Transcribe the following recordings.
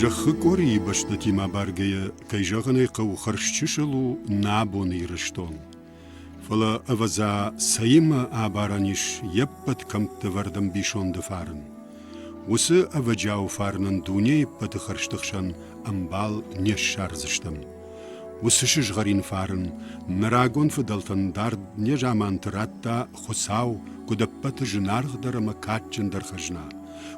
Зӕххы къорийы бӕстӕтимӕ абаргӕйӕ, кӕй зӕгъын ӕй хъӕуы, хӕрзчысыл у нӕ абоны Ирыстон. Фӕлӕ, ӕвӕдза, цӕимӕ абарӕн ис йе ппӕт кӕмтты ӕвӕрд ӕмбисонды фарн. Уыцы ӕвӕджиауы фарнӕн дунейы ӕппӕты хӕрзты хсӕн ӕмбал не ссардзыстӕм. Уыцы сызгъӕрин фарн нӕ рагон фыдӕлтӕн дард незаманты радта Хуыцау куыд ӕппӕты зынаргъдӕр ӕмӕ кадджындӕр хӕзна,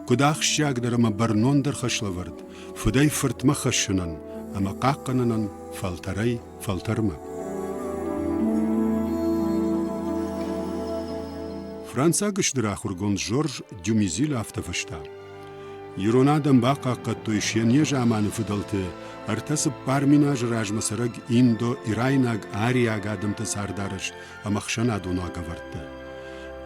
куыд ахсджиагдӕр ӕмӕ бӕрнондӕр хӕслӕвӕрд фыдӕй фыртмӕ хӕссынӕн ӕмӕ хъахъхъӕнынӕн фӕлтӕрӕй фӕлтӕрмӕ. Францаг стыр ахуыргонд Жорж Дюмизил афтӕ фыста. Ирон адӕм бахъахъхъӕдтой се не заманы фыдӕлты ӕртӕ цыппар мин азы размӕ цӕрӕг индо-ирайнаг ариаг адӕмты цардарӕзт ӕмӕ ӕхсӕнадон уагӕвӕрдтӕ.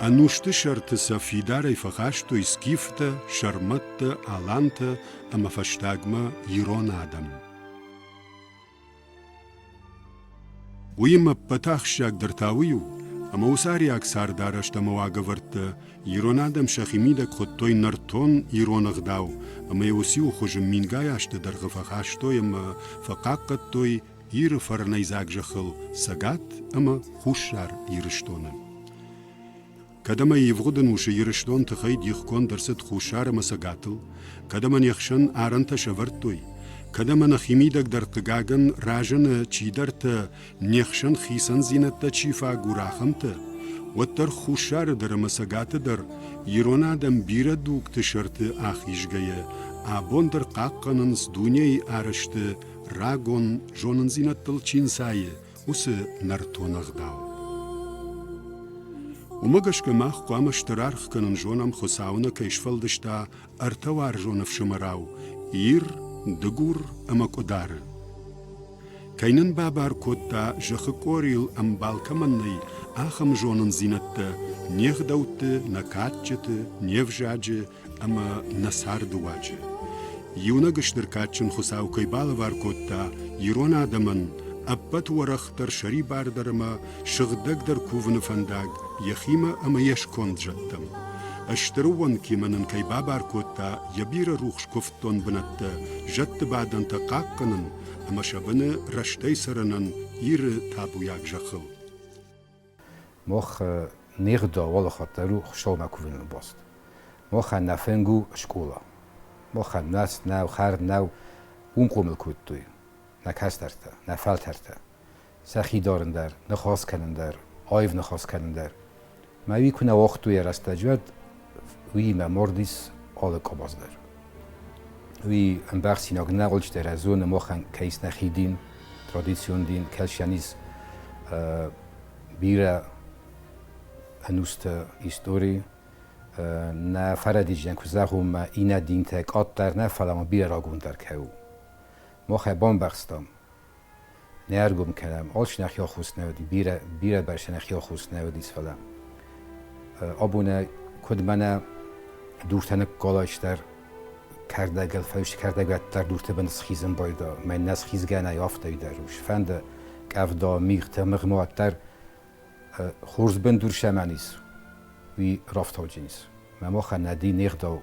Ӕнусты сӕрты сӕ фидарӕй фӕхастой скифтӕ, сӕрмӕттӕ, алантӕ ӕмӕ фӕстагмӕ ирон адӕм. Уыимӕ ӕппӕт ахсджиагдӕр та уый у, ӕмӕ уыцы ариаг цардарӕзт ӕмӕ уагӕвӕрдтӕ ирон адӕм сӕхи мидӕг хуыдтой нӕртон ирон ӕгъдау ӕмӕ йӕ уыцы-иу хуызы мингай азты дӕргъы фӕхастой ӕмӕ фӕхъахъхъӕдтой Иры фӕрнӕйдзаг зӕххыл Цӕгат ӕмӕ Хуссар Ирыстоны. Кӕд ӕмӕ ивгъуыд ӕнусы Ирыстон тыхӕй дихгонд ӕрцыд Хуссар ӕмӕ цӕгатыл, кӕд ӕмӕ не хсӕн арӕнтӕ сӕвӕрдтой, кӕд ӕмӕ нӕ химидӕгдӕр хъыгагӕн разыны чидӕртӕ, не хсӕн хицӕндзинӕдтӕ чи фӕагур, ахӕмтӕ, уӕддӕр Хуссары дӕр ӕмӕ цӕгаты дӕр ирон адӕм бирӕ дугты сӕрты ахизгӕйӕ, абон дӕр хъахъхъӕнынц дунейы арӕзты рагон зонындзинӕдтыл чи нцайы, уыцы нӕртон ӕгъдау. Уымӕ гӕсгӕ мах хъуамӕ стыр аргъ кӕнын зонӕм, Хуыцауы нӕ кӕй сфӕлдыста ӕртӕ уарзон ӕфсымӕрау Ир, Дыгур ӕмӕ Къуыдары. Кӕй нын бабар кодта, зӕххы къорийыл ӕмбал кӕмӕн нӕй, ахӕм зонындзинӕдтӕ, не гъдӕутты, нӕ кадджыты, не взаджы ӕмӕ нӕ цардыуаджы. Иунӕг стыр кадджын Хуыцау кӕй балӕвар кодта ирон адӕмӕн ӕппӕт уӕрӕхдӕр сӕрибардӕр ӕмӕ сыгъдӕгдӕр кувыны фӕндаг йӕхимӕ ӕмӕ йе сконд зӕдтӕм. Стыр уӕнгимӕ нын кӕй бабар кодта йӕ бирӕ рухс куывддон бынӕттӕ, зӕдты бадӕнтӕ хъахъхъӕнын ӕмӕ сӕ быны рӕстӕй цӕрынӕн Иры табуйаг зӕххыл. Мах нигъ дӕ уӕлахӕттӕ ру Хуссаумӕ кувыныл баст. Махӕн нӕ фӕнг у скъола. Махӕн нас нӕу, хӕрд нӕу, уым хъомыл кодтой нӕ кӕстӕртӕ, нӕ фӕлтӕртӕ. Сӕхи дарын дӕр, ныхас кӕнын дӕр, аив ныхас кӕнын дӕр. Мӕ уый куы нӕ уагътой йӕ рӕстӕджы, уӕд Уыимӕ мордис алы къабаздӕр. Уи ӕмбӕхсинаг нӕгъулчтерӕ зонӕ мохӕн кӕйснӕ хидин, традицион дин, кӕсианиз бирӕ ӕнустӕ истори нӕ фӕрӕдизӕн ку зӕгъунмӕ иннӕ динтӕ къаддӕр нӕ, фӕлӕ ма бирӕ рагондӕр кӕу. Мохӕ бамбӕхстам, Не ӕргом кӕнӕм, очень хёхус не уыди, бирӕ, бирӕ бӕстӕ не хёхус не уыдис, фӕлӕ абонӕй куыд мӕнӕ дуртӕ ныкколайстӕр кӕрдӕгыл, фӕлӕ кӕрдӕгӕттӕр дурты бын схизын байда, мӕн нӕ схизгӕ нӕй афтӕ дӕр ус. Фӕнды къӕвда, мигътӕ, мыгмаг дӕр хорз бындур сӕмӕн ис, уый рафтауджын ис. Мӕ махӕн нӕ ди не гъдау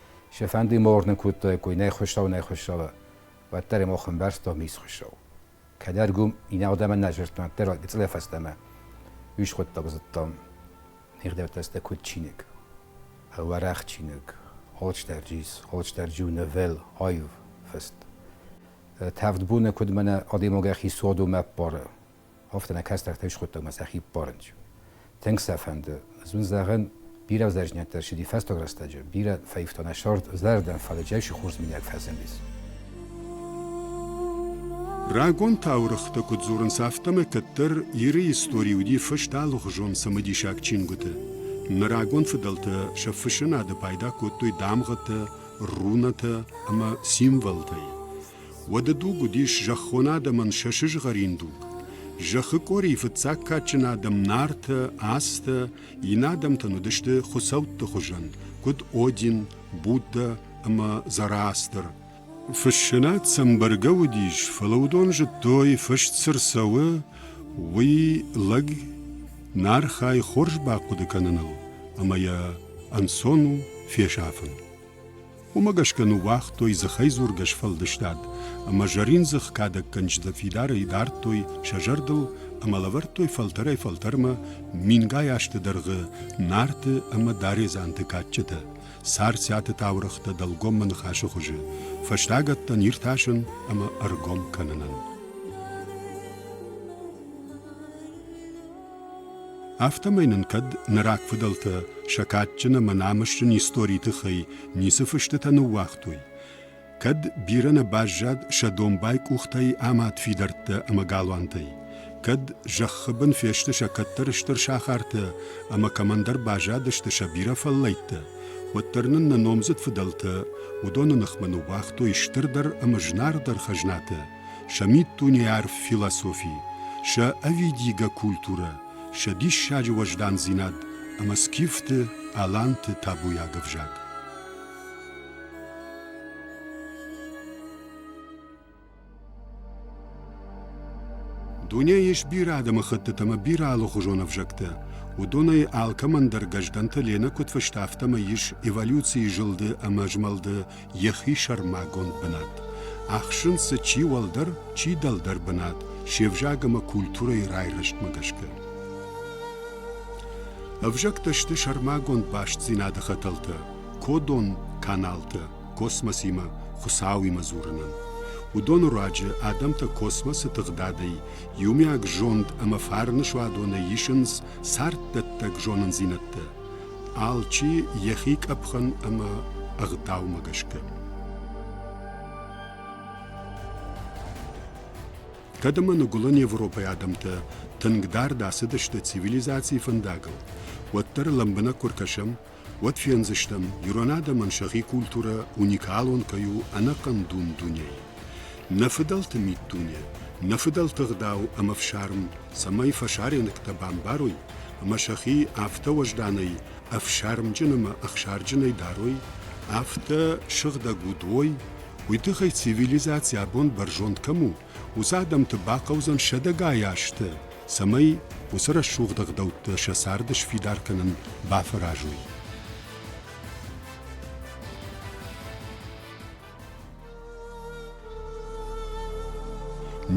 Сӕ фӕнды ма уырнын кодтаиккой нӕ хуыщау, нӕ хуыщауы, уӕддӕр ӕм охӕмбӕрстам ис хуыщау. Кӕд ӕргом иннӕ адӕмӕн нӕ дзырдтам, уӕддӕр гыцъылӕй фӕстӕмӕ ус хуыддӕг зыдтам. Ныгъдӕвдта сты куыд чиныг. Уӕрӕх чиныг, Holsterdžis, Holsterdžu novel, аив фыст. Тӕвд боны куыд мӕнӕ адӕймагӕхи цадом ӕппары, афтӕ нӕ кӕстӕртӕ схуыдтой мӕ сӕхи парнч. Тынг сӕ фӕнды. Ez un зӕгъын, бирӕ взаержниӕттӕ сиди фӕстаг рӕстӕджы, бирӕ фӕивта нӕ сӕрд зӕрдӕн, фӕлӕ джайсы хорз минӕг фӕзындис. Рагон таурыхъты куыд дзурынц, афтӕмӕй кӕддӕр Иры истори уыди фыст алыгъуызон цымыдисаг чингуыты. Нӕ рагон фыдӕлтӕ сӕ фыссынады пайда кодтой дамгъӕтӕ, рунатӕ ӕмӕ символтӕй. Уӕды дуг уыдис зӕххон адӕмӕн сӕ сызгъӕрин дуг. Зӕххы къорийы фыццаг кадджын адӕм Нартӕ, Астӕ, иннӕ адӕмтӕн уыдысты хуыцӕутты хуызӕн, куыд Один, Буддӕ ӕмӕ Зороастр. Фыссынад сӕм бӕргӕ уыдис, фӕлӕ уыдон зыдтой, фыст цы рцӕуы, уый лӕг Нархӕй хорз бахъуыды кӕныныл ӕмӕ йӕ ӕнцон у фесафын. Уымӕ гӕсгӕ ныууагътой дзыхӕйдзургӕ сфӕлдыстад ӕмӕ зӕрин дзых кадӕггӕнджытӕ фидарӕй дардтой сӕ зӕрдыл ӕмӕ лӕвӕрдтой фӕлтӕрӕй-фӕлтӕрмӕ мингай азты дӕргъы нарты ӕмӕ даредзанты кадджытӕ, Царциаты таурӕгътӕ дӕлгоммӕ ныхасы хуызы, фӕстагӕттӕн иртасын ӕмӕ ӕргом кӕнынӕн. Афтӕмӕй нын кӕд нӕ рагфыдӕлтӕ сӕ кадджын ӕмӕ намысджын историйы тыххӕй ницы фыстытӕ ныууагътой, кӕд бирӕ нӕ баззад сӕ домбай къухтӕй амад фидӕрттӕ ӕмӕ галуантӕй, кӕд зӕххы бын фесты сӕ кӕддӕр стыр сахартӕ ӕмӕ кӕмӕндӕр баззадысты сӕ бирӕ фӕллӕйттӕ, уӕддӕр нын нӕ номдзыд фыдӕлтӕ уыдоны ныхмӕ ныууагътой стырдӕр ӕмӕ знагдӕр хӕзнатӕ, сӕ миддунеарф философи, сӕ ӕвидигӕ культурӕ, сӕ диссаджы уӕздандзинад ӕмӕ скифты аланты табуйаг ӕвзаг. Дунейы ис бирӕ адӕмыхӕттыты ӕмӕ бирӕ алыхуызон ӕвзӕгтӕ. Уыдонӕй алкӕмӕн дӕр Гӕздӕнты Ленӕ куыд фыста, афтӕмӕй ис эволюцийы зылды ӕмӕ змӕлды йӕхи сӕрмагонд бынат ахсынц дзы чи уӕлдӕр, чи дӕлдӕр бынат се взаг ӕмӕ культурӕйы райрӕзтмӕ гӕсгӕ. Ӕвзӕгтӕ сты сӕрмагонд бастдзинады хӕтӕлтӕ кодон каналтӕ космосимӕ Хуыцауимӕ дзурынӕн. Уыдоны руаджы адӕмтӕ космосы тыгъдадӕй иумиаг зонд ӕмӕ фарны суадонӕй исынц царддӕттӕг зонындзинӕдтӕ. алчи йӕхи къӕпхӕн ӕмӕ ӕгъдаумӕ гӕсгӕ. Кӕд ӕмӕ ныгуылӕн Европӕйы адӕмтӕ тынгдӕр дӕцыдысты цивилизацийы фӕндагыл, уӕддӕр лӕмбынӕг куы ркӕсӕм, уӕд фендзыстӕм, ирон адӕмӕн сӕхи культурӕ уникалон кӕй у ӕнӕхъӕн дун дунейы. Нӕ фыдӕлты миддуне, нӕ фыдӕлты ӕгъдау ӕмӕ фсарм цӕмӕй фӕсарӕнӕгтӕ бамбарой, ӕмӕ сӕхи афтӕ уӕзданӕй ӕфсармджын ӕмӕ ӕхсарджынӕй дарой, афтӕ сыгъдӕг уд уой, уый тыххӕй цивилизаци абон бӕрзонд кӕм у, уыцы адӕмты бахъӕудзӕн сӕдӕгай азты, цӕмӕй уыцы рӕсугъд ӕгъдӕуттӕ сӕ царды сфидар кӕнын бафӕразой.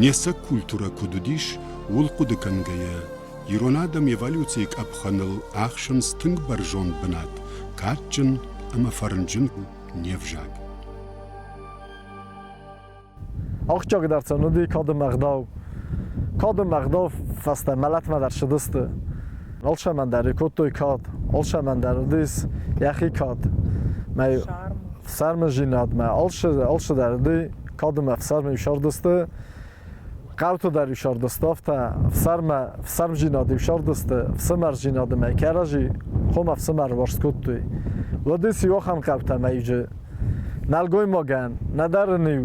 Не сӕг культурӕ куыд уыдис, ууыл хъуыды кӕнгӕйӕ, ирон адӕм эволюцийы къӕпхӕныл ӕхсынц тынг бӕрзонд бынат, кадджын ӕмӕ фӕрнджын не взаг. Ахсджиагдӕр цӕн уыди кады ӕгъдау. Кады ӕгъдау фӕстӕ мӕлӕтмӕ дӕр ссыдысты. Алсаман дӕр кодтой кад, алсаман дӕр уыдис йӕхи кад. Мӕ сӕрмӕзинадмӕ алцы дӕр уыди, кадмӕ ӕфсармы исардысты, хъӕуты дӕр исардысты афтӕ, ӕфсарммӕ ӕфсармзинады исардысты, ӕфсымӕрзинады мӕ кӕрӕжи хом ӕфсымӕр уарзт кодтой. Уыдис иу ахӕм хъӕутӕ мӕ иджы. Нӕлгоймагӕн, нӕдӕр ын-иу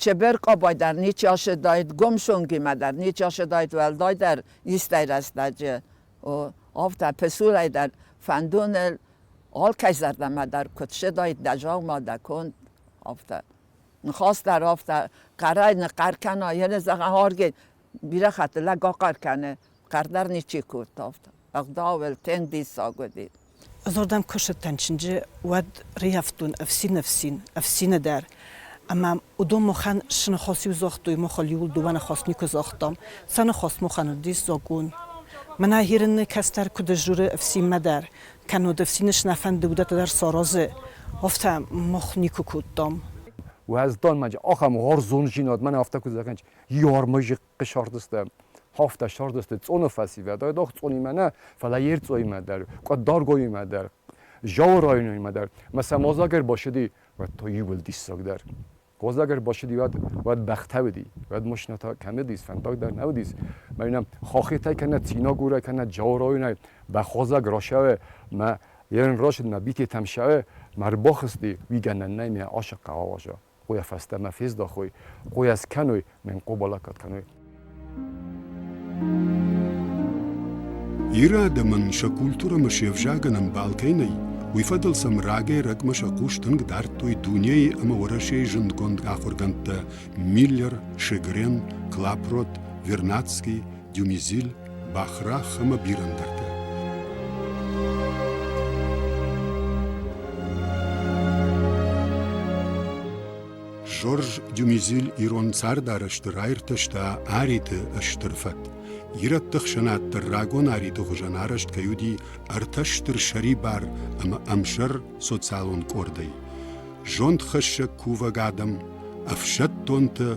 Чеберкъабай дӕр ничи ашедаид, Гомшонгимӕ дӕр ничи ашедаид уӕлдай дӕр истӕй рӕстӕджы. Афтӕ песурӕй дӕр фӕндоныл алкӕй зӕрдӕмӕ дӕр куыд седаид дӕ дзаума, дӕ конд, афтӕ. Ныхас дӕр афтӕ хъӕрӕй ныхъӕр кӕна, йӕ зӕгъӕн, аргъ бирӕ хатты лӕг ахъӕр кӕны, къӕрдӕр ничи кодтавта. Ӕгъдауӕй тенг диссаг уыди. Дзурдам куы ссыдтӕн чынджы, уӕд рӕййӕфтон ӕфсин-ӕфсин, ӕфсины дӕр. Ӕмӕ уыдон махӕн сыныхос иу загътой, махыл иуыл дыууӕ ныхас никуы загътам. Сӕ ныхас махӕн уыдис закъон. Мӕнӕ Хирынны кӕстӕр куыд сдзуры ӕфсинмӕ дӕр, кӕннод ӕфсины сынаффӕнды удӕттӕ дӕр саразы, афтӕ мах никуы кодтам. Уӕзданмӕ ахӕм гъӕрзон зинад мӕнӕ афтӕ куы дзы ракӕнич, Иормӕ зыхъхъы сӕрдыстӕм. Хафта сӕрдысты цъоны фӕсивӕд, айдагъ цъонимӕ нӕ, фӕлӕ Ерцъоимӕ дӕр, Къаддаргоимӕ дӕр, Зауы районимӕ дӕр. Мӕ сӕ мадзаг ӕрбашыди, уӕд та иууыл диссагдӕр. Мадзаг ӕрбашыди, уӕд, уӕд бӕхтӕ уыди, уӕд машинӕтӕ кӕм уыдис, фӕндагдӕр нӕ уыдис. Мӕнӕ хохитӕй кӕнӕ Цинагурӕй, кӕнӕ Зауы районӕй бӕхвӕзӕг рашӕуы, мӕ ерын рашыд, мӕ битетӕм шӕуы, мӕ ӕрбахызти, уый гӕнӕн нӕй, мӕ асыкк ауаза. Къуя фӕстӕмӕ фездахуй, къуя скӕнуй, минкъобалаккат кӕнуй. Иры адӕмӕн сӕ культурӕмӕ се взагӕн ӕмбалтӕй нӕй, уый фӕдыл сӕм рагӕй-рӕгмӕ сӕ хъус тынг дардтой дунейы ӕмӕ Уӕрӕсейы зындгонд ахуыргӕндтӕ Миллер, Шегрен, Клапрот, Вернадский, Дюмизил, бӕхрӕх ӕмӕ бирӕ ӕндӕртӕ. Жорж Дюмизил ирон цардарӕзты раиртӕста Ариты стыр фӕд. Ирӕтты хсӕнад дӕр рагон Ариты хуызӕн арӕзт кӕй уыди ӕртӕ стыр сӕрибар ӕмӕ ӕмсӕр социалон къордӕй, зондхӕссӕг кувӕг адӕм, ӕфсӕддонтӕ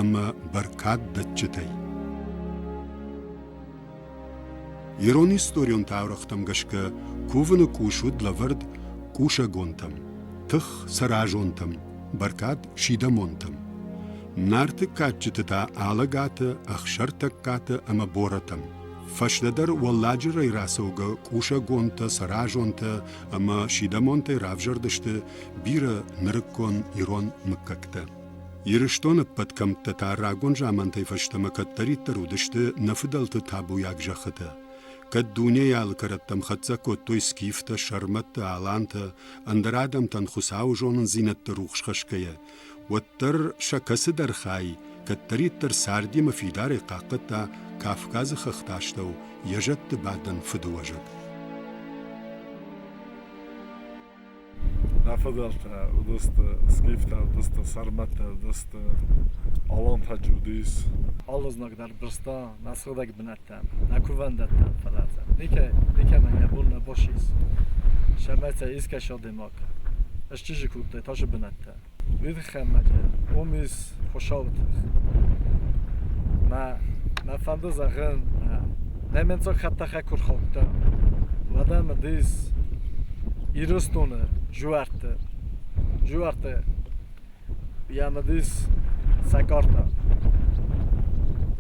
ӕмӕ бӕркаддӕтджытӕй. Ирон историон таурӕгътӕм гӕсгӕ кувыны къус уыд лӕвӕрд кусӕгонтӕм, тых сӕразонтӕм, бӕркад сидӕмонтӕм. Нарты кадджыты та Алӕгаты, Ӕхсӕртӕггаты ӕмӕ Борӕтӕм. Фӕстӕдӕр Уӕлладжырӕй рацӕугӕ кусӕгонтӕ, сӕразонтӕ ӕмӕ сидӕмонтӕй равзӕрдысты бирӕ нырыккон ирон мыггӕгтӕ. Ирыстоны ӕппӕт кӕмттӕ та рагон замантӕй фӕстӕмӕ кӕддӕриддӕр уыдысты нӕ фыдӕлты табуйаг зӕххытӕ. Кӕд дунейы алы кӕрӕттӕм хӕццӕ кодтой скифтӕ, сӕрмӕттӕ, алантӕ, ӕндӕр адӕмтӕн Хуыцауы зонындзинӕдты рухс хӕсгӕйӕ, уӕддӕр сӕ кӕцыдӕр хай кӕддӕриддӕр цардимӕ фидарӕй хъахъхъӕдта кавказы хӕхты астӕу йӕ зӕдты бадӕн фыдыуӕзӕг нӕ фӕдӕлтӕ уыдысты скифтӕ уыдысты сӕрмӕттӕ уыдысты алантаджы уыдис алы знаг дӕр дырста нӕ сыгъдӕг бынат дӕттӕн, нӕ кувӕндӕттӕн фӕллатӕн. Никӕй, никӕмӕн нӕ бон нӕ босис. Сӕмӕцӕй искӕс адӕймаг ӕстизи клубтӕй тази бунӕттӕ. Уи хеммӕджи омис хуӕсауи тых. Мӕ мӕ фӕнду зӕгъин, нӕ менцаг хаттахӕ ку рхаудтан, уӕдӕ мӕ дис Ирыстоны жуӕртты, жуӕртты Йӕ мыдис сӕкъӕртӕ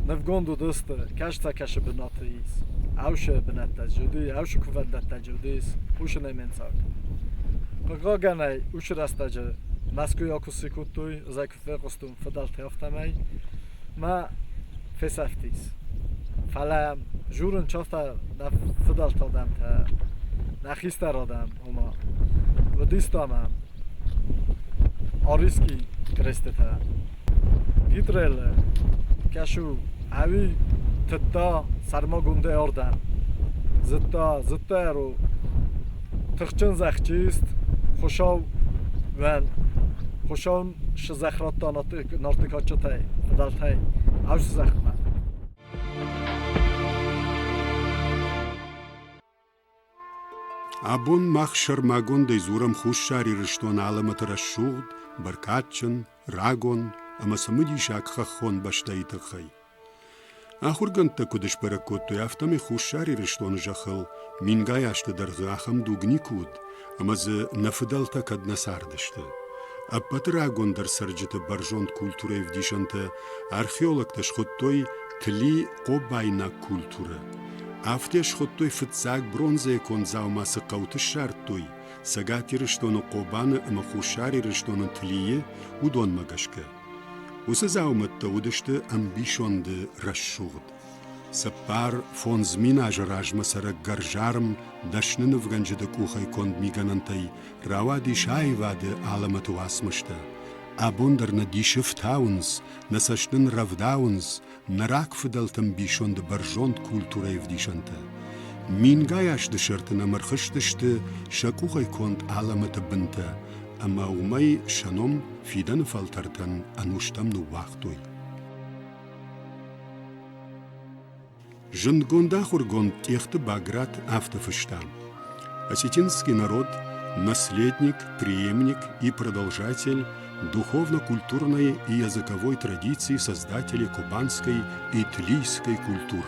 нывгонд уыдысты кӕсӕтӕкӕсы бынаты ис ӕусы бынӕттӕ чи уыди, ӕусы кувӕндӕттӕ чи уыдис, хъусынӕй ме нцад. Хъыгагӕнӕй, уыцы рӕстӕджы Мӕскуыйӕ куы сси кодтой, ӕз ӕй куы фехъуыстон фыдӕлтӕй, афтӕмӕй. Ма фесӕфтис, фӕлӕ йӕм журын часта дӕ фыдӕлты адӕмтӕ, нӕ хистӕр адӕм, ома Вадистамӕ Ариски крестытӕ. Гитрелы кӕсы у ӕви тыдта сӕрмагондӕй ардӕм. Зыдта, зыдта йӕ ро тыхджын зӕхджыист Хуыщауӕн, Хуыщауӕн Зӕхрӕдта нартыкаччытӕй цыдӕртӕй ӕвз зӕхмӕ. Абон мах сӕрмагондӕй дзурӕм Хуссар Ирыстоны алӕмӕты рӕсугъд, бӕркадджын, рагон ӕмӕ цымыдисаг хӕххон бӕстӕйы тыххӕй. Ахуыргӕндтӕ куыд сбӕрӕг кодтой, афтӕмӕй Хуссар Ирыстоны зӕххыл мингай азты дӕргъы ахӕм дуг никуы уыд, ӕмӕ дзы нӕ фыдӕлтӕ кӕд нӕ цардысты. Ӕппӕты рагондӕр цӕрджыты бӕрзонд культурӕйы ӕвдисӕнтӕ археологтӕ схуыдтой тли хъобайнаг культурӕ. Афтӕ схуыдтой фыццаг бронзӕйы конд дзаума цы хъӕуты ссардтой, Цӕгат Ирыстоны Хъобаны ӕмӕ Хуссар Ирыстоны Тлийы, уыдонмӕ гӕсгӕ. Уыцы дзаумӕттӕ уыдысты ӕмбисонды рӕсугъд. Цыппар фондз мин азы размӕ цӕрӕг гӕрзарм дӕсны нывгӕнджыты къухӕй конд мигӕнӕнтӕй рауадис аивады алӕмӕты уацмыстӕ. Абон дӕр нӕ дисы фтауынц, нӕ цӕст нын рӕвдауынц, нӕ рагфыдӕлты ӕмбисонды бӕрзонд культурӕйы ӕвдисӕнтӕ. Мингай азты сӕрты нӕм ӕрхызтысты сӕ къухӕй конд алӕмӕты бынтӕ, ӕмӕ уымӕй сӕ ном фидӕны фӕлтӕртӕн ӕнустӕм ныууагътой. Зындгонд ахуыргонд Тъехты Баграт афтӕ фыста: Осетинский народ – наследник, преемник и продолжатель духовно-культурной и языковой традиции создателей кубанской и тлийской культур.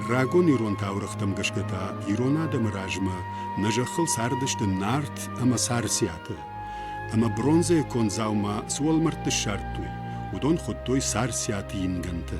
Рагон ирон таурӕгътӕм гӕсгӕ та ирон адӕмы размӕ нӕ зӕххыл цардысты нарт ӕмӕ царциаты. Ӕмӕ бронзӕйы конд дзаума цы уӕлмӕрдты ссардтой, уыдон хуыдтой царциаты ингӕнтӕ.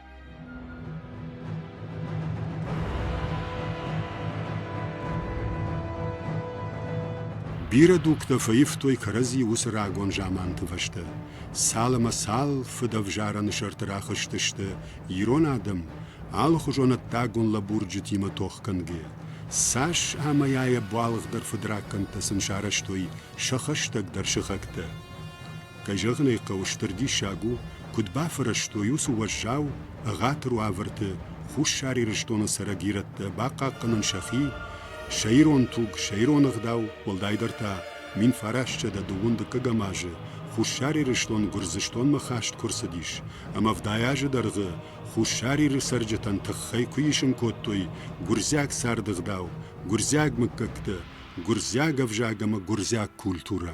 Бирӕ дугтӕ фӕивтой кӕрӕдзи уыцы рагон заманты фӕстӕ. Цал ӕмӕ цал фыдӕвзарӕны сӕрты рахызтысты ирон адӕм, алыхуызон ӕддагон лӕбурджытимӕ тохгӕнгӕйӕ. Цас ӕмӕ йӕ йӕ буалгъдӕр фыдракӕндтӕ сын сарӕзтой сӕ хӕстӕгдӕр сыхӕгтӕ. Кӕй зӕгъын ӕй хъӕуы, стыр диссаг у, куыд бафӕрӕзтой уыцы уӕззау, ӕгъатыр уавӕрты Хуссар Ирыстоны цӕрӕг ирӕттӕ бахъахъхъӕнын сӕхи, сӕ ирон туг, сӕ ирон ӕгъдау, уӕлдайдӕр та мин фарасчъӕдӕ дыууын дыккӕгӕм азы Хуссар Ирыстон Гуырдзыстонмӕ хаст куы рцыдис ӕмӕ ӕвдай азы дӕргъы Хуссар Иры цӕрджытӕн тыххӕй куы исын кодтой гуырдзиаг царды ӕгъдау, гуырдзиаг мыггӕгтӕ, гуырдзиаг ӕвзаг ӕмӕ гуырдзиаг культурӕ.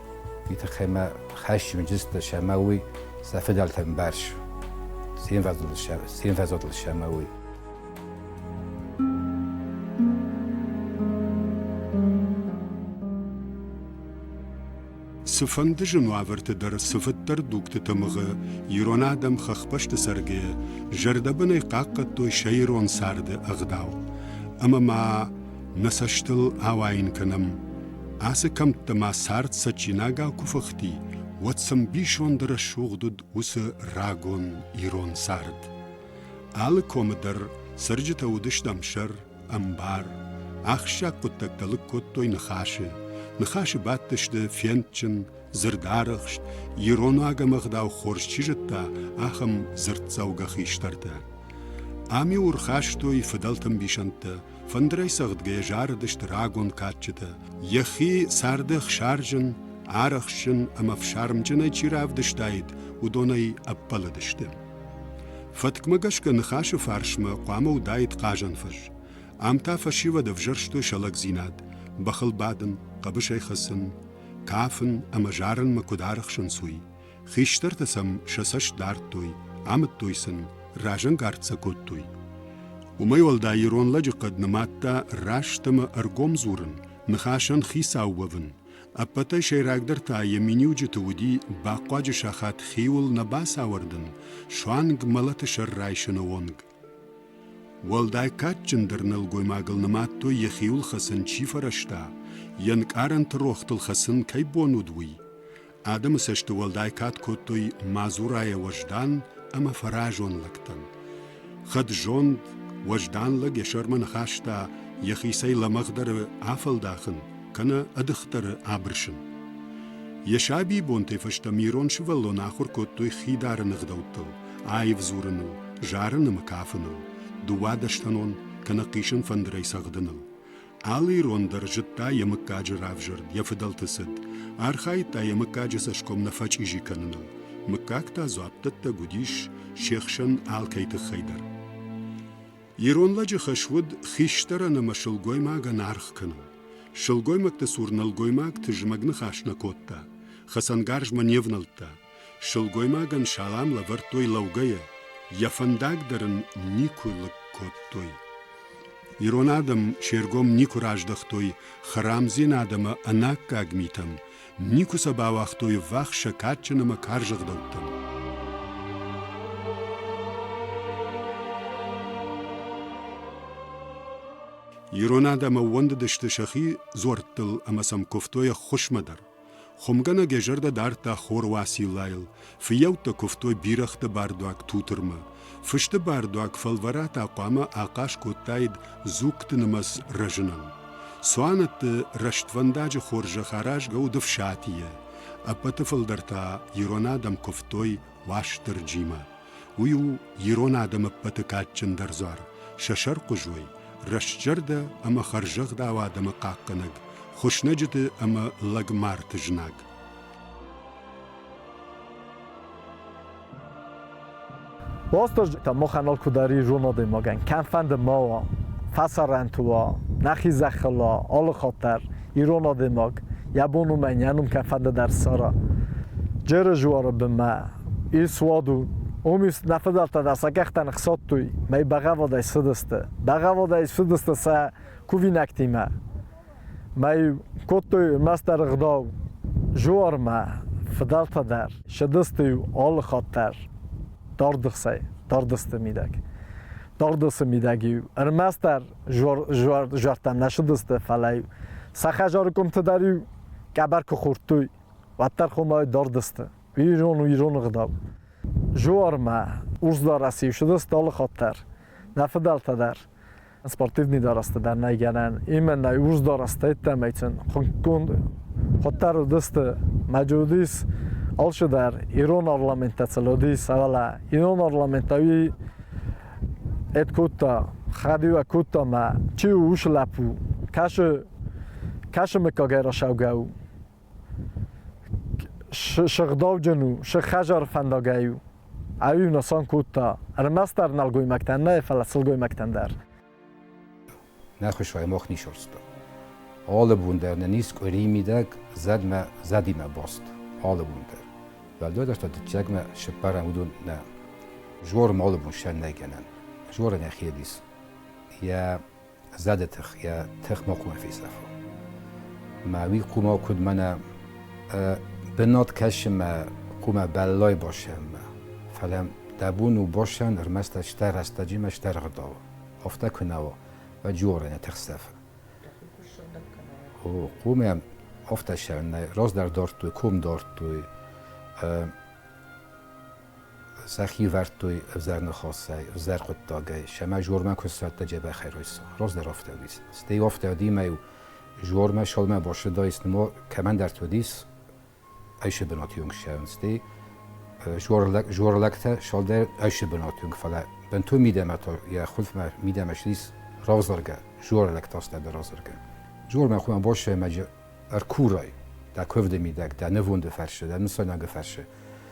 уый тыххӕй хӕсджын уыдзысты сӕмӕ уый сӕ фыдӕлтӕн барс ценвӕзодыл сӕмӕ уый. Цыфӕнды зын уавӕрты дӕр цыфыддӕр дугты тымыгъы ирон адӕм хӕхбӕсты цӕргӕйӕ зӕрдӕбынӕй хъахъхъӕдтой сӕ ирон царды ӕгъдау. Ӕмӕ ма Нӕ цӕстыл ауайын кӕнӕм, ацы кӕмттӕ ма цард цӕджинагау куы фыхти, уӕд цы мбисонды рӕсугъд уыд уыцы рагон ирон цард. Алы комы дӕр цӕрджытӕ уыдысты ӕмсӕр, ӕмбар. Ахсджиаг хъуыддӕгтӕ лыг кодтой ныхасы. Ныхасы бадтысты фендджын, дзырдарӕхст, ирон ӕгӕмӕгъдау хорз чи зыдта, ахӕм дзырддзӕугӕ хистӕртӕ. Ам-иу ӕрхастой фыдӕлты мбисӕндтӕ, Фӕндырӕй цӕгъдгӕйӕ зарыдысты рагон кадджытӕ. Йӕхи царды ӕхсӕрджын, арӕхстджын ӕмӕ фсармджынӕй чи равдыстаид, уыдонӕй ӕппӕлыдысты. Фӕткмӕ гӕсгӕ ныхасы фарсмӕ хъуамӕ уыдаид хъазӕнфӕз. Ам та фӕсивӕд ӕвзӕрстой сӕ лӕгдзинад, бӕхыл бадын, хъӕбысӕй хӕцын, кафын ӕмӕ зарынмӕ куыд арӕхсынц, уый. Хистӕртӕ сӕм сӕ цӕст дардтой, амыдтой сын, разӕнгард сӕ кодтой. Уымӕй уӕлдай ирон лӕджы хъӕд нымадта раст ӕмӕ ӕргом дзурын, ныхасӕн хицау уӕвын. Ӕппӕтӕй сӕйрагдӕр та йӕ миниуджыты уыди бахъуаджы сахат хиуыл нӕ бацауӕрдын, суанг мӕлӕты сӕр райсыны онг. Уӕлдай кадджындӕр нӕлгоймагыл нымадтой йӕ хиуыл хӕцын чи фӕрӕзта, йе нкъарӕнты рохтыл хӕцын кӕй бон уыд, уый. Адӕмы цӕсты уӕлдай кад кодтой мадзурайӕ уӕздан ӕмӕ фӕразон лӕгтӕн. Хӕдзонд, уӕздан лӕг йӕ сӕрмӕ ныхаста, йӕхицӕй лӕмӕгъдӕры афӕлдахын, кӕнӕ ӕдыхдӕры абырсын. Йӕ сабибонтӕй фӕстӕмӕ ирон сывӕллоны ахуыр кодтой хидары ныгъдӕуттыл, аив дзурыныл, зарын ӕмӕ кафыныл, дыууадӕстӕнон кӕнӕ хъисын фӕндырӕй цӕгъдыныл. Алы ирон дӕр зыдта йӕ мыггаджы равзӕрд, йӕ фыдӕлты цыд, архайдта йӕ мыггаджы цӕсгом нӕ фӕчъизи кӕныныл. Мыггаг та дзуаппдӕттӕг уыдис се хсӕн алкӕй тыххӕй дӕр. Ирон лӕджы хӕс уыд хистӕрӕн ӕмӕ сылгоймагӕн аргъ кӕнын. Сылгоймӕгты цур нӕлгоймаг тызмӕг ныхас нӕ кодта, хӕцӕнгарзмӕ не внӕлдта, Сылгоймагӕн салам лӕвӕрдтой лӕугӕйӕ, йӕ фӕндаг дӕр ын никуы лыг кодтой. Ирон адӕм се ргом никуы раздӕхтой хӕрамдзинад ӕмӕ ӕнаккаг митӕм, никуы сӕ бауагътой ввахс сӕ кадджын ӕмӕ карз ӕгъдӕуттӕм. Ирон адӕм ӕууӕндыдысты сӕхи дзуӕрттыл ӕмӕ сӕм куывтой ӕххуысмӕ дӕр. Хуымгӕнӕг йӕ зӕрдӕ дардта хор Уациллайыл, фыййӕуттӕ куывтой бирӕгъты бардуаг Тутырмӕ. Фысты бардуаг фӕлвӕрӕтӕ хъуамӕ ахъаз кодтаид дзугты нымӕц рӕзынӕн. Цуанӕтты рӕствӕндаджы хорзӕх аразгӕ уыд ӕфсатийӕ. Ӕппӕты фылдӕр та ирон адӕм куывтой Уастырджимӕ. Уый у ирон адӕмы ӕппӕты кадджындӕр дзуар, сӕ сӕрхъуызой, рӕстзӕрдӕ ӕмӕ хӕрзӕгъдау адӕмы хъахъхъӕнӕг, хуыснӕджыты ӕмӕ лӕгмарты знаг. Ростож маханал кудӕри зон адӕймагӕн, кӕмфӕнде ма уа, фӕсарӕнтуа, нӕхи зӕххӕла, алыхатӕр. ирон адӕймаг йӕ бон у мӕн йӕ ном кӕфӕнда дӕр ссара джеры жуары бынмӕ ис суад у омис нӕ фыдӕлтӕ дӕр сӕ кӕхтӕн хсадтой мӕй бӕгъӕвӕдӕй цыдысты бӕгъӕвӕдӕй цыдысты сӕ кувинӕгтимӕ мӕй кодтой ӕрмӕстдӕр ӕгъдау жуармӕ фыдӕлтӕ дӕр сыдысты алы хатт дӕр дардыхсӕй дардысты мидӕг дардысы мидӕг ӕрмӕстдӕр жуардтам нӕ шудыстӕ фалӕ сӕ хӕжари къумтӕ дӕр къӕбӕр ку хурдтой уӕддӕр хумӕ дардыстӕ ирон ирон гъдау жуармӕ урсдарӕси шудыст алы хатт дӕр нӕ фидӕлтӕ дӕр спортивный дарӕстӕ дӕр нӕй гӕнӕн имӕ нӕ урс дарӕстӕ иттӕмӕйцин хундгун хуӕддӕр уыдысты мӕджудис алчидӕр ирон арламентӕ цӕлодис авӕлӕ ирон арламент ӕви Ед кодта, хӕдиуӕ кодта мӕ, чи у уыцы лӕппу, кӕсы, кӕсы мыггагӕй расаугӕ у. Сыгъдауджын у, сыгхӕзар фӕндагӕй у. Ӕви нысан кодта, ӕрмӕстдӕр нӕлгоймӕгтӕн нӕ, фӕлӕ сылгоймӕгтӕн дӕр. нӕхуӕй мах нисорста. Алы бон дӕр нӕ нис къуыри мидӕг зӕдмӕ зӕдимӕ баст. Алы бон дӕр. Бӕлдодӕртӕ дыччагмӕ сыппарӕм уыдон нӕ жорым алы бон сӕн нӕ кӕнӕм. Жора нӕхи дис йӕ зӕды тых, йӕ тых ма хъумӕ фесафа. Мӕ уый хъума куыд мӕнӕ бынат кӕсы мӕ хъумӕ бӕллай басӕммӕ. Фӕлӕ дӕ бон у басӕн ӕрмӕст стӕ рӕстӕджимӕ стӕргъдал. афтӕ куы нӕ у, ӕджоры нӕ тыхсӕфы. О, хъумӕ афтӕ сӕ раздӕр дардтой, кум дардтой, сӕ хивӕрдтой ӕвзӕр ныхасӕй, ӕвзӕр хъуыддагӕй. Сӕмӕ жормӕ куы ссардта джебӕхӕй райса. Раздӕр афтӕ уыдис. Стӕй афтӕ уыдимӕ жормӕ шалмӕ башыдаис, нума кӕмӕндӕр уыдис, ӕйсӕ бынӕтты уынг ссарынц, стӕй жуӕрлӕгтӕ салдӕр ӕйсӕ бынӕтты уынг, фӕлӕ бынтон мидӕмӕ та йӕ хъулфмӕ мидӕмӕ ссис равзаргӕ, жуӕрлӕг тастадӕ равзаргӕ. Жуӕрмӕ хъуамӕ босӕймаджы ӕркурай дӕ куывды мидӕг, дӕ нывонды фӕрцы, дӕ нысанады фӕрцы.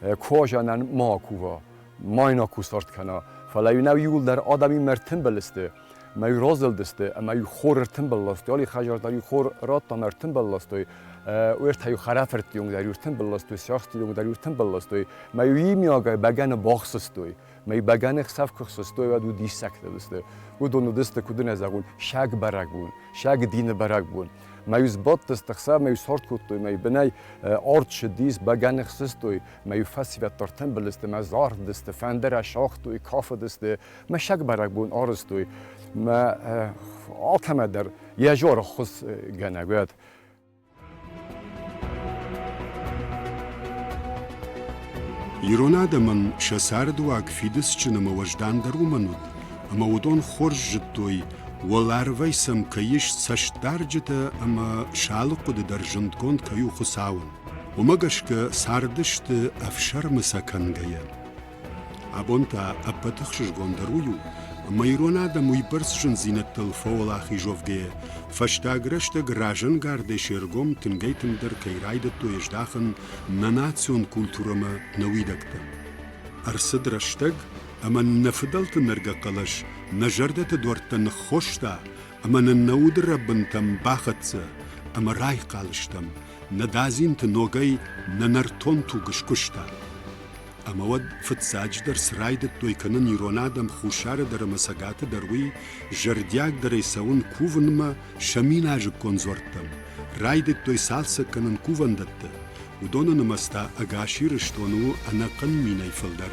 кожанӕн ма кува, ма йын акусард кӕна. Фӕлӕ иунӕг иуылдӕр адӕми мӕр тымбыл сты, ма иу разылдысты ӕмӕ иу хор ӕртымбыл ластой. Али Хажар дӕр иу хор радта мӕ ӕртымбыл ластой. Уертӕ иу хӕрӕфӕртти онг дӕр иу ӕртымбыл ластой, сӕхти онг дӕр иу ӕртымбыл ластой. Ма иу имиагӕй бӕгӕны бахсыстой. Мӕ бӕгӕны хсӕв куы хсыстой, уӕд уы диссӕгтӕ уыдысты. Уыдон уыдысты, куыд ын ӕдзӕгъул, саг бӕрӕгбон, саг дины бӕрӕгбон. Мӕ сбадтысты хсӕв, мӕ сорт кодтой, мӕ бынӕй арт ссыдис, бӕгӕны хсыстой, мӕ фӕсивӕддӕр тымбылысты, мӕ зарыдысты, фӕндырӕ сагътой, кафыдысты, мӕ саг бӕрӕгбон арызтой. Мӕ алкӕмӕ дӕр йӕ зӕрыхъуысгӕнӕг уӕд. Ирон адӕмӕн сӕ цардыуаг фидыцджын ӕмӕ уӕздандӕр уымӕн уыд, ӕмӕ уыдон хорз зыдтой, уӕларвӕй сӕм кӕй ис цӕстдарджытӕ ӕмӕ сӕ алы хъуыды дӕр зындгонд кӕй у Хуыцауӕн. Уымӕ гӕсгӕ цардысты ӕфсӕрмы сӕ кӕнгӕйӕ. Абон та ӕппӕт ӕхсызгондӕр уый у, ӕмӕ ирон адӕм уыйбӕрц зындзинӕдтыл фӕуӕлахизовгӕйӕ, фӕстаг рӕстӕг разӕнгардӕй се ргом тынгӕй-тынгдӕр кӕй райдыдтой здахын нӕ национ культурӕмӕ нӕ уидӕгтӕ. Ӕрцыд рӕстӕг, ӕмӕ нӕ фыдӕлты нӕргӕ хъӕлӕс нӕ зӕрдӕты дуӕрттӕ ныххоста ӕмӕ нын нӕ удырӕбынтӕм бахӕццӕ ӕмӕ райхъал стӕм, нӕ дадзинты ногӕй нӕ нӕртон туг скуыста. ӕмӕ уӕд фыццаджыдӕр цы райдыдтой кӕнын ирон адӕм хуссары дӕр ӕмӕ цӕгаты дӕр, уый зӕрдиагдӕрӕй цӕуын кувынмӕ сӕ миназыккон дзуӕрттӕм, райдыдтой цалцӕг кӕнын кувӕндӕтты, уыдоны нымӕц та ӕгас Ирыстоны у ӕнӕхъӕн минӕй фылдӕр.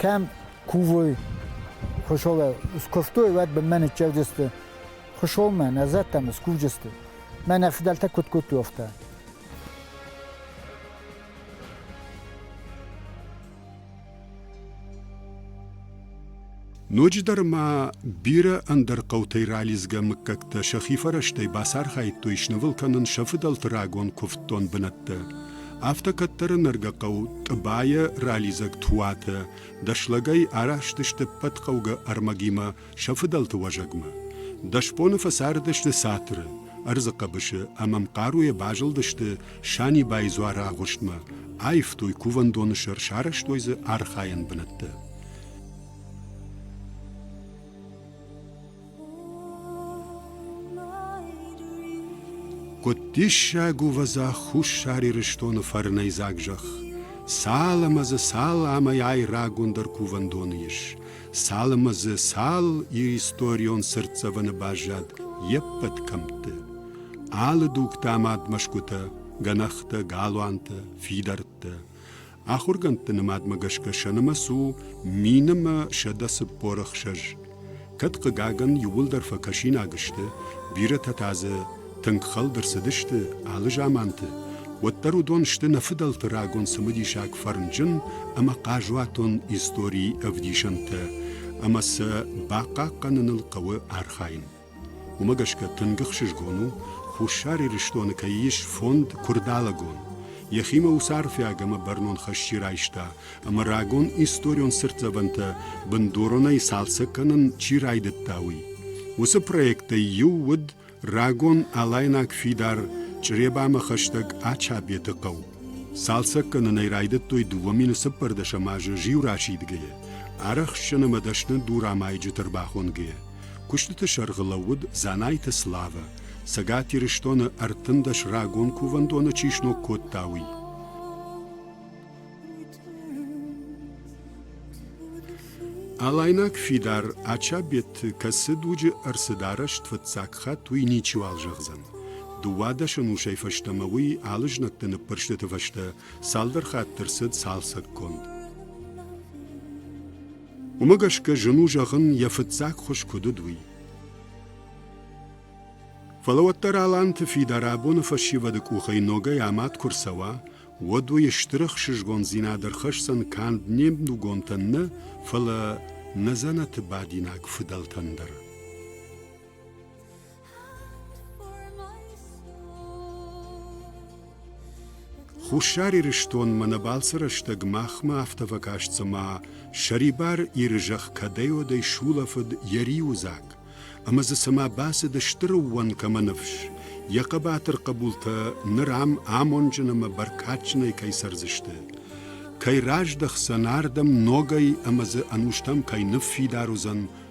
кӕм кувой хуысолӕй скуывтой, уӕд бынмӕ ныццӕгдзысты хуысолмӕ, нӕ зӕдтӕм скувджысты. Мӕ нӕ фыдӕлтӕ куыд кодтой афтӕ. Ноджыдӕр ма бирӕ ӕндӕр хъӕутӕй ралидзгӕ мыггӕгтӕ сӕхи фӕрӕзтӕй бацархайдтой снывыл кӕнын сӕ фыдӕлты рагон куывддон бынӕттӕ. Афтӕ кӕддӕры нӕргӕ хъӕу Тъыбайӕ ралидзӕг Туатӕ дӕслӕгӕй араст сты ӕппӕт хъӕугӕ ӕрмӕгимӕ сӕ фыдӕлты уӕзӕгмӕ. Дӕс боны фӕцардысты цатыры, ӕрдзы хъӕбысы ӕмӕ мхъаруйӕ базылдысты Санибайы дзуары агъуыстмӕ, аивтой кувӕндоны сӕр, сарӕзтой дзы архайӕн бынӕттӕ. Куыд диссаг у вӕза Хуссар Ирыстоны фӕрнӕйдзаг зӕхх. Цал ӕмӕ дзы цал амӕйай рагондӕр кувӕндоны ис, цал ӕмӕ дзы цал иристорион цыртдзӕвӕны баззад йе ппӕт кӕмтты. Алы дугтӕ ӕмӕ ӕдмӕсгуытӕ, гӕнӕхтӕ, галуантӕ, фидӕрттӕ. Ахуыргӕндты нымадмӕ гӕсгӕ сӕ нымӕц у мин ӕмӕ сӕдӕ цыппор ӕхсӕз. Кӕд, хъыгагӕн, иууылдӕр фӕкӕсинаг сты, бирӕтӕ та дзы тынг хӕлд ӕрцыдысты алы заманты, уӕддӕр уыдон сты нӕ фыдӕлты рагон цымыдисаг фӕрнджын ӕмӕ хъазуатон историйы ӕвдисӕнтӕ, ӕмӕ сӕ бахъахъхъӕныныл хъӕуы архайын. Уымӕ гӕсгӕ тынг ӕхсызгон у, Хуссар Ирыстоны кӕй ис фонд Куырдалӕгон. Йӕхимӕ уыцы арфӕг ӕмӕ бӕрнон хӕсджы райста, ӕмӕ рагон историон цыртдзӕвӕнтӕ бындуронӕй цалцӕг кӕнын чи райдыдта, уый. Уыцы проектӕй иу уыд рагон алайнаг фидар Чъребамӕ хӕстӕг Ачабеты хъӕу. Цалцӕг кӕнын ӕй райдыдтой дыууӕ мины цыппӕрдӕсӕм азы зиу расидгӕйӕ, арӕхстджын ӕмӕ дӕсны дурамайджыты ӕрбахонгӕйӕ. Куыстыты сӕргъы лӕууыд Дзанайты Славӕ, Цӕгат Ирыстоны ӕртындӕс рагон кувӕндоны чи сног кодта, уый. Алайнаг фидар Ачабеты кӕцы дуджы ӕрцыд арӕзт фыццаг хатт, уый ничиуал зӕгъдзӕн. Дыууадӕсӕн усӕй фӕстӕмӕ уый алы знӕгты ныппырстыты фӕстӕ цалдӕр хатты рцыд цалцӕггонд. Уымӕ гӕсгӕ зын у зӕгъын, йӕ фыццаг хуыз куыд уыд, уый. Фӕлӕ уӕддӕр аланты фидар абоны фӕсивӕды къухӕй ногӕй амад куы рцӕуа, уӕд уый стыр ӕхсызгондзинад ӕрхӕсдзӕн канд не мдугонтӕн нӕ, фӕлӕ нӕ дзӕнӕты бадинаг фыдӕлтӕн дӕр. Хуссар Ирыстонмӕ нӕ балцы рӕстӕг махмӕ афтӕ фӕкаст цыма сӕрибар Иры зӕхх кӕдӕй-уӕдӕй сулӕфыд йӕ риуы дзаг, ӕмӕ дзы цыма бацыд стыр ӕууӕнкӕмӕ ныфс, йӕ хъӕбатыр хъӕбултӕ ныр ам амонджын ӕмӕ бӕркадджынӕй кӕй цӕрдзысты, кӕй раздӕхдзӕн ардӕм ногӕй ӕмӕ дзы ӕнустӕм кӕй ныффидар уыдзӕн,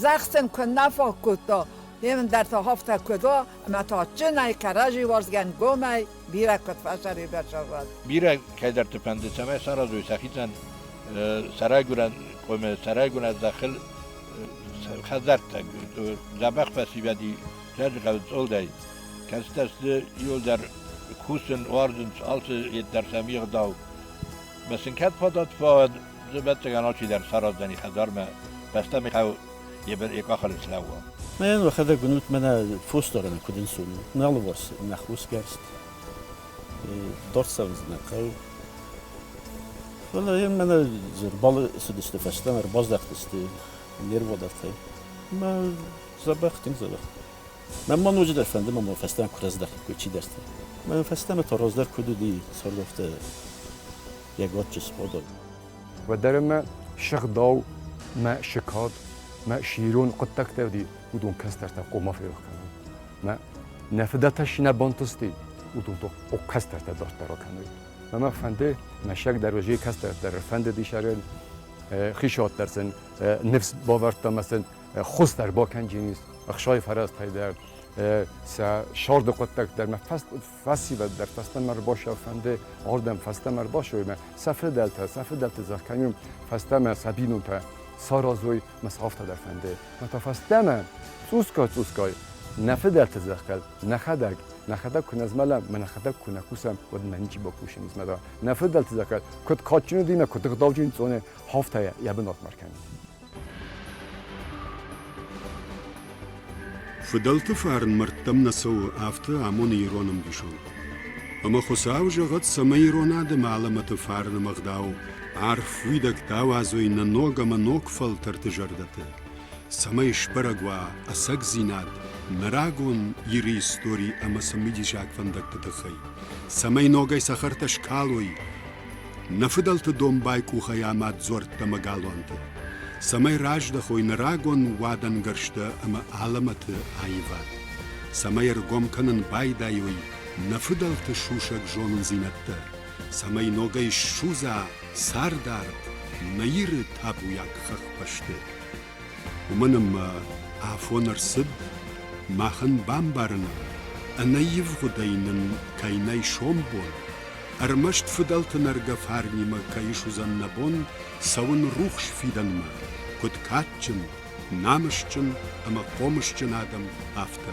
Зӕхсӕн куыннӕ фаг кодта, емен дӕр тагъафтӕ кодта, ӕма тагъдджинӕй кӕрӕдзи уарзгӕн гомӕй бирӕ куд фӕсӕребӕл сӕврад. Бирӕ кӕйдӕрти фӕнды, цӕмӕй саразой сӕхицӕн сӕрайгурӕн къоме, сӕрайгурӕн зӕххыл хӕдзӕрттӕ. Дзӕбӕх фӕсивӕди Фӕзгъӕл цъолдӕй, кӕцытӕ сты иуылдӕр кусын, уарзынц алцы йеддӕр сӕм егъдау. Ма сын кӕд фадат фӕуӕд, Зубӕццагӕн алчидӕр сараздзӕни хӕдзармӕ, бӕстӕ Михал е бер е къахӕн слӕууа. Мӕн уӕхӕдӕг гунут мӕнӕ фосдарӕн куд инсун, нӕ алыварс нӕ хосгӕрст дардцӕрдзинӕ хъӕу. Фӕлӕ ем мӕнӕ зӕрбалы цыдысты фӕстӕмӕ, ӕрбаздӕхтысты нерводартӕй. Мӕ дзӕбӕх, тынг дзӕбӕх. Мӕ ма ноджыдӕр фӕнды мӕ фӕстӕмӕ куы раздӕхиккой чидӕртӕ. Мӕ фӕстӕмӕ та раздӕр куыд уыди, сӕрд афтӕ йӕ гаччы сходӕг. Уӕддӕр мӕ сыгъдау, мӕ сыкъат, мӕ сирон хъуыддӕгтӕ уыди, уыдон кӕстӕртӕ хъуамӕ ферох кӕной. Мӕ нӕ фыдӕлтӕ шинӕ бантысти, уыдонтыл кӕстӕртӕ дарддӕр кӕной. Мӕ фӕнды мӕсӕг дӕр уыди, кӕстӕр дӕр фӕнды дисарен, хисад дӕр сын ныфс бавӕрдта мӕ сын хуыз дӕр бакӕнджинис, ӕхсай фӕрӕзтӕй дӕр, сӕ сӕрды хъуыддӕг дӕр мӕ Фӕсивӕд дӕр фӕстӕмӕ рбашӕ фӕнде ардӕм фӕстӕмӕ рбашоймӕ, сӕ федӕлтӕ, сӕ федӕлти зӕхкӕнун фӕстӕмӕ сабийнонтӕ саразой ма сӕфтӕ дӕр фӕнде. Мата фӕстӕмӕ цъусгай-цъусгай нӕ федӕлти зӕхкӕд нӕхӕдӕг, нӕхӕдӕг ку незмӕлӕм, ма нӕхӕдӕг ку нӕ кусӕм, уӕд нӕ ничи бакусун незмӕла. Нӕ федӕлти зӕхкӕд куд кадджын динӕ, куд гъдауджын цъоне, хафтӕйӕ е бунат ма ркӕнун. Фыдӕлты фарн мӕрдтӕм нӕ цӕуы, афтӕ амоны ирон ӕмбисонд. Ӕмӕ Хуыцау зӕгъӕд, цӕмӕй ирон адӕмы алӕмӕты фарны ӕгъдау, арф уидӕгтӕ ауадзой нӕ ног ӕмӕ ног фӕлтӕрты зӕрдӕты, цӕмӕй сбӕрӕг уа ӕцӕгдзинад нӕ рагон Иры истори ӕмӕ цымидисаг фӕндӕгты тыххӕй, цӕмӕй ногӕй цӕхӕртӕ скалой Нӕ фыдӕлты домбай къухӕй амад дзуӕрттӕ ӕмӕ галуанты, цӕмӕй раздӕхой нӕ рагон уадӕнгӕрзтӕ ӕмӕ алӕмӕты аивад, цӕмӕй ӕргом кӕнын байдайой нӕ фыдӕлты сусӕг зонындзинӕдтӕ, цӕмӕй ногӕй ссудза цардард нӕ Иры табуйаг хӕхбӕсты. уымӕн ӕмӕ афон ӕрцыд, махӕн бамбарыны ӕнӕивгъуыдӕй нын кӕй нӕй сомбон, ӕрмӕст фыдӕлты нӕргӕ фарнимӕ кӕй суыдзӕн нӕ бон цӕуын рухс фидӕнмӕ, куыд кадджын, намысджын ӕмӕ хъомысджын адӕм, афтӕ.